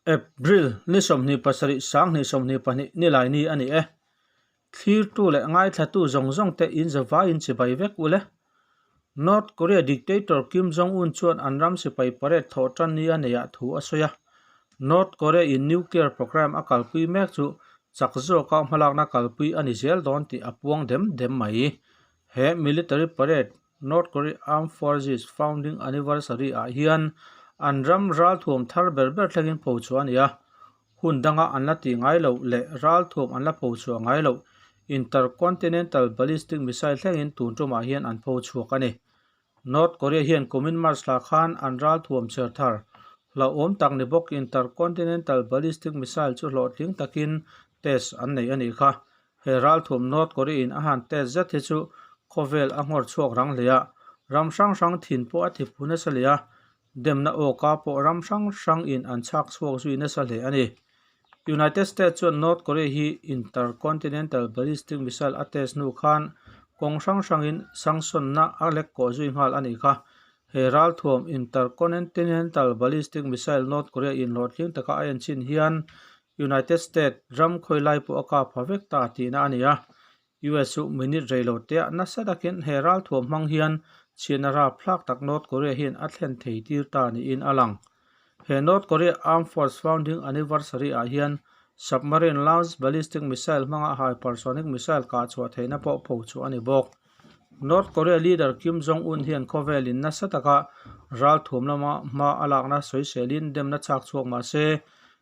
April ni sawmhnih pasarih sanghnih sawmhnih pahnih ni laini a ni e. Thlirtu leh ngaithlatu zawng zawng te inzawvai in chibai vek u le. North Korea dictator Kim Jong Un chuan an ram sipai parade thawh tan nia nei ah thu a sawi a. North Korea in nuclear programme a kalpui mek chu chak zawk a hmalakna kalpui a ni zel dawn tih a puang dem dem mai. He military parade North Korea Armed Forces Founding Anniversary ah hian an ram ralthuam thar ber ber thlengin pho chhuah a ni a, hun danga an la tih ngai loh leh ralthuam an la pho chhuah ngai loh Intercontinental Ballistic Missile thlengin tun tumah hian an pho chhuak a ni. North Korea hian kumin March thla khan an ralthuam chher thar hlauhawm tak ni bawk Intercontinental Ballistic Missile chu hlawhtling takin test an nei a nih kha, He ralthum North Korea-in a han test zet hi chu khawvel a nghawr chhuak rang hle a, ram hrang hrang thin pawh a thipu nasa leh a, demna awka pawh ram hrang hrangin an chhak chhuak zui nasa hle a ni. United States chuan North Korea hi Intercontinental Ballistic Missile a test hnu khan kawng hrang hrangin sanctionna a lek kawh zui nghal a ni kha. He ralthuam Interconentinental Ballistic Missile North Korea-in hlawhtling taka a enchin hian United States ram khawilai pawh a kap ha vek ta tihna a ni a, US chu minute rei lo teh a, nasa takin he ralthuam hmang hian chhiatna rap thlak tak North Korea hian a thlen thei tir ta niin a lang. He North Korea Armed Force Founding Anniversary ah hian submarine launched ballistic missile hmanga hypersonic missile kah chhuah theihna pawh pho chhuah a ni bawk. North Korea leader Kim Jong Un hian khawvelin nasa taka ralthuam lama hma a lakna soiselin demna chhak chhuak mahse,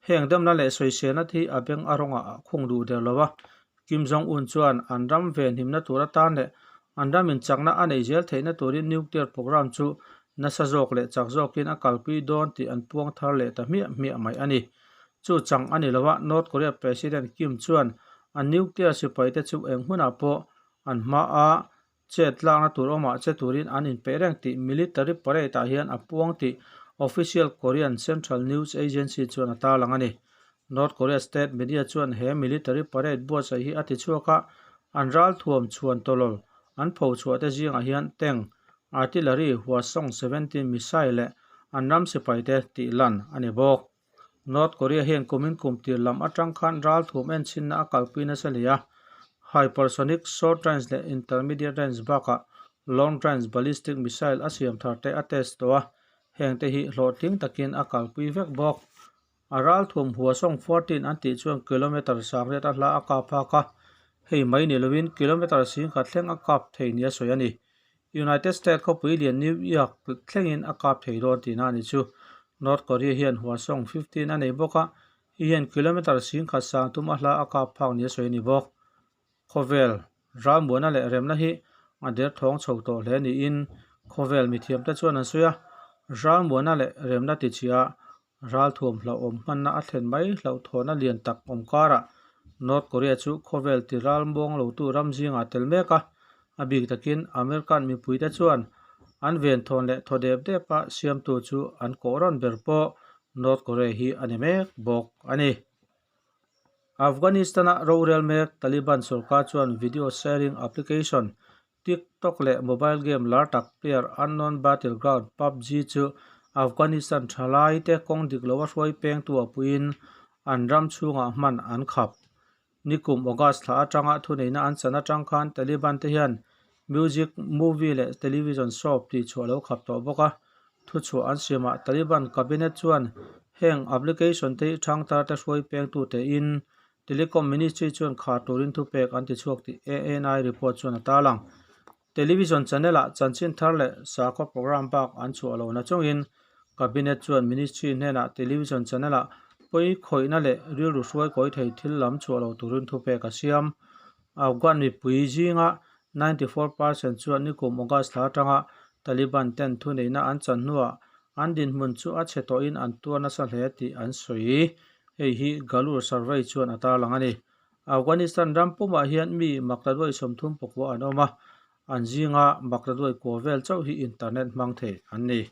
Heng damna leh sawisena te hi a beng a rawnga a khung duh der lo a. Kim Jong Un chuan an ram ve hnimna tur atan leh an ram inchakna a nei zel theihna turin nuclear program chu nasa zawk leh chak zawkin a kalpui dawn tih an puang thar leh ta hmiah hmiah mai a ni. Chu chang a ni lo a, North Korea President Kim chuan a nuclear sipaite chu eng hunah pawh an hma a chet tlakna tur awm ah che turin an in peih reng tih Military Parade ah hian a puang tih Official Korean Central News Agency chuan a tarlang a ni. North Korea state media chuan he Military Parade buatsaih hi a ti chhuak a, an ralthuam chhuan tawlol an pho chhuah te zingah hian Tank, Artillery, Hwasong seventeen missile leh an ram sipaite tih lan a ni bawk. North Korea hian kumin kumtir lam atang khan ral thum enchinna a kalpui nasa hle a. Hypersonic, Short Range leh Intermediate Range bakah Long Range Ballistic Missile a siam thar te a test tawh a, heng te hi hlawhtling takin a kalpui vek bawk. A ral thum Hwasong fourteen an tih chuan kilometre sang riat a hla a kap hak a, hei mai ni lovin kilometre sing khat thleng a kap thei nia sawi a ni. United States khawpui lian New York thlengin a kap thei dawn tihna a ni chu. North Korea hian Hwasong fifteen a nei bawk a, hei hian kilometre sing khat sang tum a hla a kap phak nia sawi a ni bawk. Khawvel ralmuana leh remna hi a derthawng chho tawh hle niin khawvel mithiamte chuan an sawi a, ralmuana leh remna tichhiah a. Ralthuam hlauh awm hmanna a thlen mai hlauh thawhna lian tak awm karah North Korea chu khawvel ti ral muang lotu ram zingah tel mek a. A bik takin American mipuite chuan an venthawn leh thaw dep depa siamtu chu an kawh rawn ber pawh North Korea hi a ni mek bawk a ni. Afghanistan-a rorel mek Taliban sorkar chuan video sharing application TikTok leh mobile game lar tak player Unknown Battleground, pubg, chu Afghanistan thalaite kawng dik loh a hruai pengtu a puiin an ram chhungah hman an khap. Ni kum August thla atanga thuneihna an chan atang khan Taliban te hian music, movie leh television show tih chhuah lo khap tawh bawk a. Thu chhuah an siamah Taliban cabinet chuan heng application te i thangtarte hruai pengtute in Telecom Ministry chuan khar turin thu pek an ti chhuak tih ANI report chuan a tal ang. Television channel ah chanchin thar leh sakhaw programme bak an chhuah lo na chungin Cabinet chuan Ministry hnenah Television channel ah pawi khawihna leh rilru hruai kawi thei thil lam chhuah lo turin thu pek a siam. Afghan mipui zinga ninety four percent chuan nikum August thla atanga Taliban ten thuneihna an chanhnuah An dinhmun chu a chhe tawhin an tuar nasa hle tih an sawi i, hei hi Galur Sarvai chuan a tarlang a ni. Afghanistan ram pumah hian mi Maktaduai sawmthum pakua an awm a, an zinga Maktaduai kua vel chauh hi internet hmang thei an ni.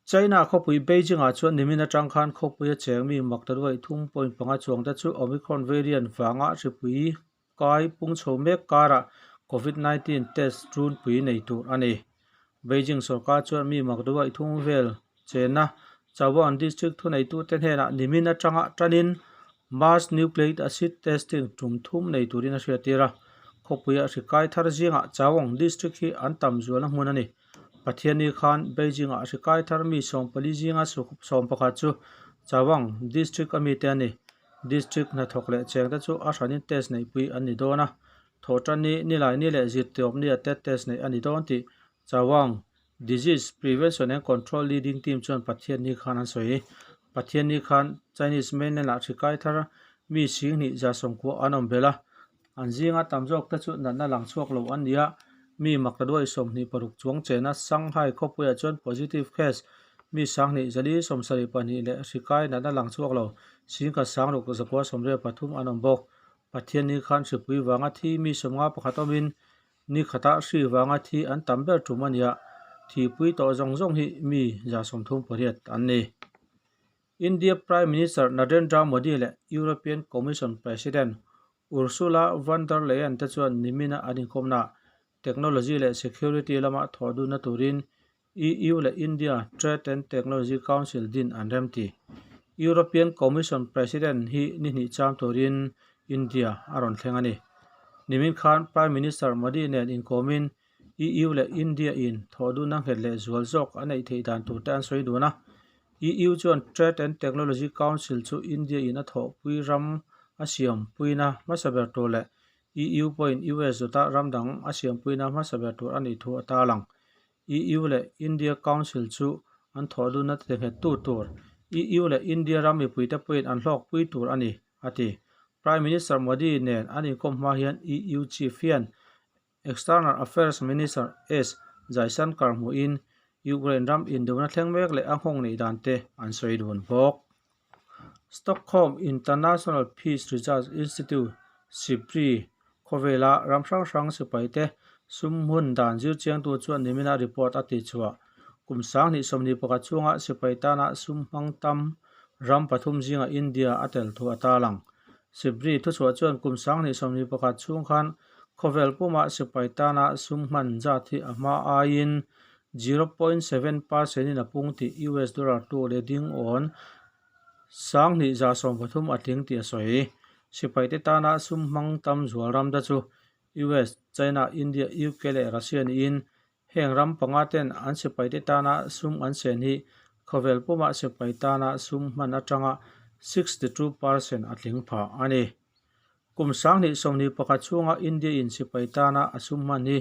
China khawpui Beijing ah chuan nimin atang khan khawpui a cheng mi Maktaduai thum point panga chuang te chu Omicron variant vanga hripui Kai pung chho mek karah Covid nineteen test ṭunpui nei tur a ni. Beijing sorkar chuan mi mak duai thung vel chenna Chawan District thuneitute hnenah nimin aṭanga ṭanin Mass Nucleic Acid Testing ṭum thum nei turin a hriattir a. Khawpuia hri kai thar zingah Chawang District hi an tam zualna hmun a ni. Pathianni khan Beijingah hri kai thar mi sawmpali zinga sawm pakhat chu Chawang District a mite a ni. District hnathawk leh cheng te chu a hran in test neihpui an ni dawn a, thaw tan ni, ni lai ni leh zirtihawp ni ah te test neih a ni dawn tih Chawang Disease Prevention and Control Leading Team chuan Pathian ni khan an sawi. Pathian ni khan Chinese Mainland ah hrikai thar mi sing hnih zia sawmkuah an awm belh a. An zinga tam zawk te chu natna lang chhuak lo an nia, mi Maktaduai sawmhnih paruk chuang chena Shanghai khawpuiah chuan positive case mi sanghnih zali sawmsarih pahnih leh hrikai natna lang chhuak lo Singkha sangruk zakua sawmriat pathum an awm bawk. Pathian nikhan hripui vanga thi mi sawmnga pakhat awmin nikhatah hri vanga thi an tam ber ṭum a nia, thihpui tawh zawng zawng hi mi zasawmthum pariat an ni. India Prime Minister Narendra Modi leh European Commission President Ursula von der Leyen te chuan Nimina an inkhawmnaah technology leh security lama thawhdunna turin EU leh India Trade and Technology Council din an remti. European Commission President hi ni hnih cham turin India a rawn thleng a ni. Nimin khan Prime Minister Modi nen inkawmin EU leh India in thawh duna nghet leh zual zawk a neih theih dan tur te an sawi dun a. EU chuan Trade and Technology Council chu India in a thawhpui ram a siam puina hmasa ber tur leh EU pawhin US zawtah ram dang a siam puina hmasa ber tur a nih thu a tal ang. EU leh India Council chu an thawh dunna ti nghet tu tur EU leh India ram mipui te pawhin an hlawk pui tur a ni, a ti. Prime Minister Modi nen an inkawm hma hian EU Chief hian External Affairs Minister S. Jaishankar hmuhin Ukraine ram induna thleng mek leh a nghawng neih dan te an sawi dun bawk. Stockholm International Peace Research Institute, SIPRI, khawvela ram hrang hrang sipaite sum hmun dan zirchiangtu chuan nimina report a tichhuah Kum sangni sawmni pakhat chunga sipai tana sum hmang tam ram pathum zinga India a tel thu a ta lang. Sibri thuchhuah chuan kum sangni sawmni pakhat chhung khan khawvel puma sipai tana sum hman zat hi a hma aiin zero point seven percent in a pung tih US dollar tu leh ding awn sanghnih za sawm pathum a tling tih a sawi. Sipai te tana sum hmang tam zual ramda chu US, China, India, UK leh Russia niin Heng ram panga ten an sipai te tana sum an sen hi khawvel puma sipai tana sum hman atanga sixty two per cent a tling phah a ni. Kum Sanghnih sawmhnih pakhat chhunga India in sipai tana a sum hman hi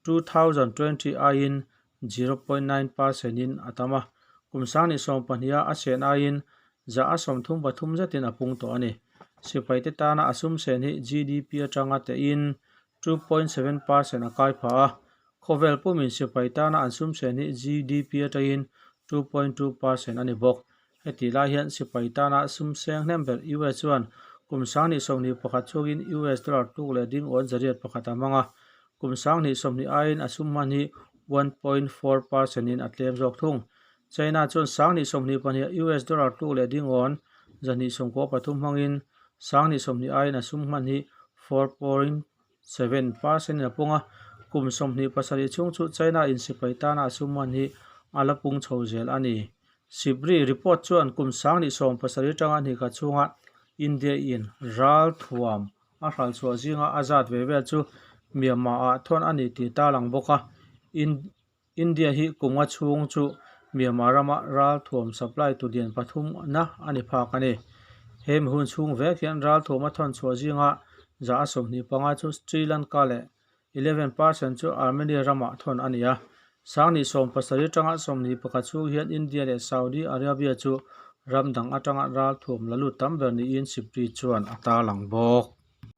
two thousand twenty aiin zero point nine per cent in a tam a, kum Sanghnih sawm pahniha a sen aiin zah a sawm thum pathum zetin a pung tawh a ni. Sipai te tana a sum sen hi GDP atanga tehin two point seven per cent a kai phah a, khawvel pum insipai tana an sumsen hi GDP atangin two point two per cent a ni bawk. Heti lai hian sipai tana sumseng hnem ber US chuan kum sanghnih sawmhnih pakhat chungin US dollar tluk leh ding awn zariat pakhat a hmang a, kum sanghnih sawmhnih aiin a sum hman hi one point four per cent in a tlem zawk thung. China chuan Sangni sawmhnih pahniha US dollar tluk leh ding awn zahnih sawm kaw pathum hmangin Sangni sawmhnih aiin a sum hman hi four point seven per cent in a pung a. Kum sawmhnih pasarih chhung chu China insipai tana a sum hman hi a la pung chho zel a ni. Sibri report chuan kum Sangni sawm pasarih atanga hnikhat chhunga India in ral thuam a hralchhuah zinga a zat ve vel chu Myanmar-ah thawn a ni tih ta lang bawk a. India hi kunga chhung chu Myanmar rama ralthuam supply tulian pathum na a ni phak a ni. He mi hun chhung vek hian ralthuam a thawn chhuah zinga za a sawmhnih panga chu Sri Lanka leh eleven per cent chu Armenia ramah thawn a ni a. Sanghnih sawm pasarih atanga sawmhnih pakhat chhung hian India leh Saudi Arabia chu ram dang atanga ralthuam la lut tam ber niin Sipri chuan a tarlang bawk.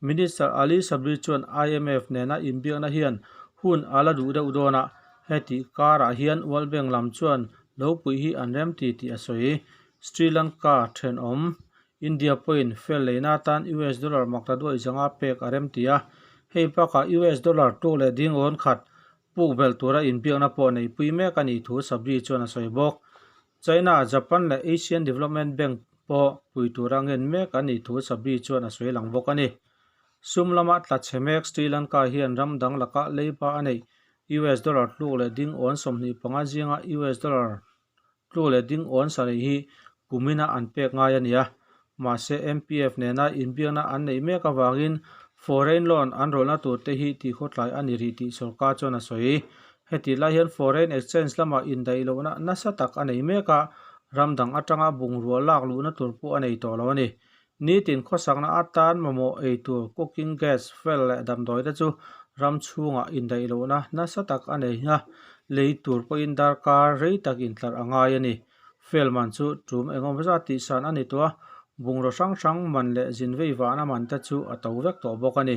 Minister Ali Sabri chuan IMF nena inbiakna hian hun a la duh deuh dawn a, hetih karah hian World Bank lam chuan lo puih hi an rem ti tih a sawi. Sri Lanka thenawm, India pawhin fel leina atan US dollar mak ta duai zanga pek a rem ti a, hei bakah US dollar tu leh ding rawn khat Puk vel tura inbiakna pawh neipui mek a nih thu Sabri chuan a sawi bawk. China, Japan leh Asian Development Bank pawh pui tura ngen mek an nih thu Sabri chuan a sawi lang bawk a ni. Sum lama tla chhe mek Sri Lanka hian ram dang lakah leiba a neih US dollar tluk leh ding awn sawmhnih panga zinga US dollar Tlu leh ding awn sarei hi kumina an pek ngai a nia. Mahse, MPF nena inbiakna an neih mek avangin foreign loan an rawlhna tur te hi tihkhawtlai a ni rih tih sorkar chuan a sawi. Hetih lai hian foreign exchange lamah indaih lohna nasa tak a nei mek a, ram dang atanga bungrua lak luhna tur pawh a nei tawh lo a ni. Nitin khawsakna atan mamawh ei tur cooking gas fel leh damdawi te chu ram chhungah indaih lohna nasa tak a nei a, lei tur pawhin darkar rei tak intlar a ngai a ni. Fel man chu tum engemaw zat tih san a ni tawh a, bungraw hrang hrang man leh zin vei vahna man te chu a to vek tawh bawk a ni.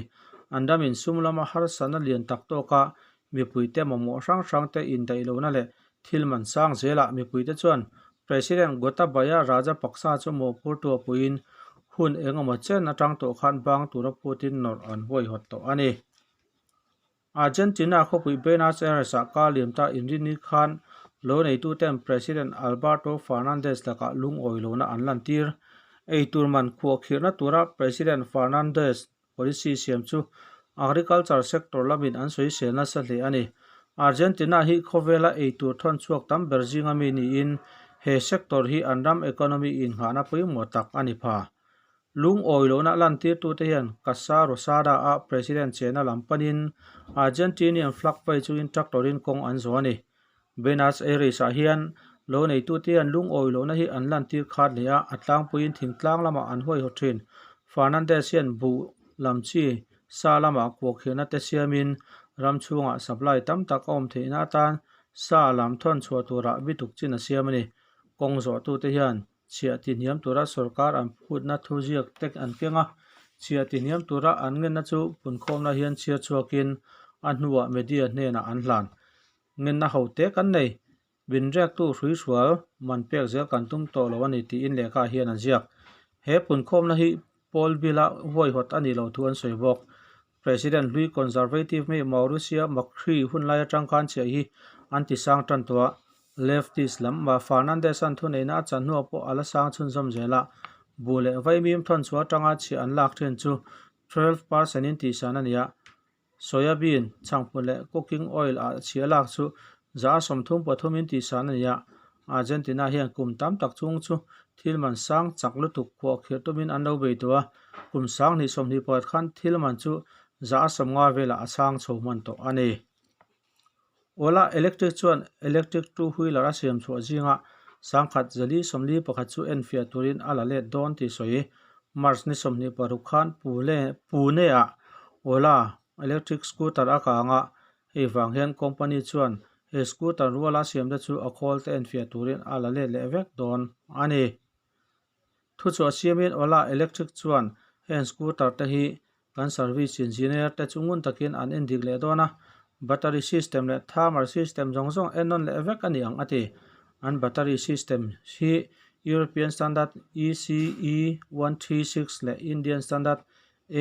An ram insum lama harsatna lian tak tawkah Mipuite mamawh hrang hrangte indaihlohna leh thil man sang zelah mipuite chuan President Gotabaya Rajapaksa chu mawhphur tuapuiin hun engemaw chen atang tawh khan bang tura phutin nawrh an huaihawt tawh a ni. Argentina khawpui Buenos Aires-ah kar liam ta inri ni khan lo neituten President Alberto Fernandez lakah lungawi lohna an lantir. Eitur man khuahkhirhna tura President Fernandez Policy siam chu Agriculture sector lamin an sawisel nasa hle a ni. Argentina hi khawvela eitur thawn chhuak tam ber zinga mi niin he sector hi an ram economy innghahna pawimawh tak a ni pha. Lung awi lohna lantirtute hian Casa Rosada-a President chena lam panin Argentinian flag pei chu instructor-in kawng an zawh a ni. Buenos Aires-ah hian lo neitute an lungawi lohna hi an lantir khat leh a, a tlangpuiin thingtlang lamah an huaihaw thin. Fernandez hian buh lam chi sa lamah kuakhiahna te siamin ram chhungah supply tam tak a awm theihna atan sa lam thawn chhuah turah bituk chin a siam a ni. Kawng zawhtute hian chhiah tihniam tura sorkar an phutna thuziak te an keng a, chhiah tihniam tura an ngenna chu punkhawmna hian chhiar chhuakin a hnuah media hnenah an hlan. Ngenna ho te kan nei. Binriaktu hrui hrual man pek zel kan tum tawh lo a ni tiin lehkhaah hian an ziak. He punkhawmna hi Paul Bila huaihawt a nih loh thu an sawi bawk. President hlui Conservative mi Maurisia Macri hunlai atang khan chiah hi an ti sang tan tawh a, Leftist lam mah Fernandez-a'n thuneihna a chahnuah pawh a la sang chhunzawm zel a, bu leh vaimim thawnchhuah atanga chhiah an lak thin chu twelve percent-in tihsan a ni a. Soyabean, chhakpu leh cooking oil a chhia lak chu za sawmthum pathumin tihsan a ni a. Argentina hian kum tam tak chung chu thil man sang chak lutuk huahkhirh tumin an lo bei tawh a, kum sang hnih sawmhnih pakhat khan thil man chu za sawmnga velah a chhang chho hman tawh a ni. Ola electric chuan electric two wheeler a siam chhuah zinga sang khat zali sawmli pakhat chu en fiah turin a la let dawn tih sawi. March ni sawmhnih paruk khan Pune-ah Ola electric scooter a kang a, hei vang hian company chuan he scooter ruala siamte chu a khawl te en fiah turin a la let leh vek dawn a ni. Thu chu a siamin Ola Electric chuan heng scooter te hi kan service engineer te chu ngun takin an endik leh dawn a, battery system leh thermal system zawng zawng en nawn leh vek a ni ang a ti. An battery system hi European standard ECE one three six leh Indian standard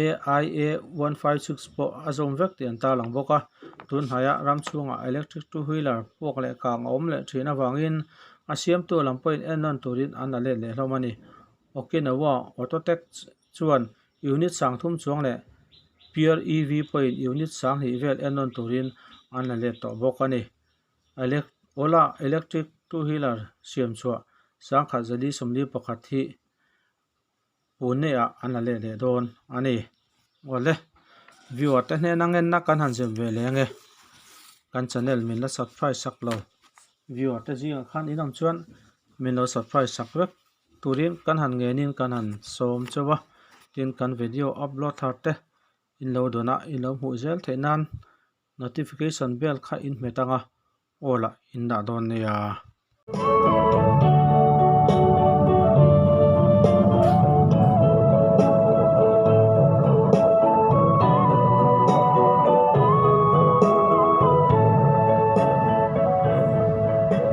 AIA one five six pawh a zawm vek tih an tarlang bawk a tunhnaiha ram chhungah electric two wheeler puak leh kang a awm leh thin avangin a siamtu lam pawhin en rawn turin an la let lehhlawm a ni okinawa auto tech chuan unit sang thum chuang leh peer ev pawhin unit sang hnih vel en rawn turin an la let tawh bawk a ni ola electric two wheeler siam chhuah sangkhat zali sawmli pakhat hi-- Puneah an la let leh dawn a ni. Awle, viewer te hnena ngenna kan han zep ve leng e. Kan channel min la subscribe sak lo. Viewer te zingah khan in awm chuan min lo subscribe sak vek. Turin kan han ngenin kan han sawm che va. Tin, kan video upload thar te in lo dawnah in lo hmuh zel theih nan notification bell kha in hmet ang a. Aw lah in dah dawn nia.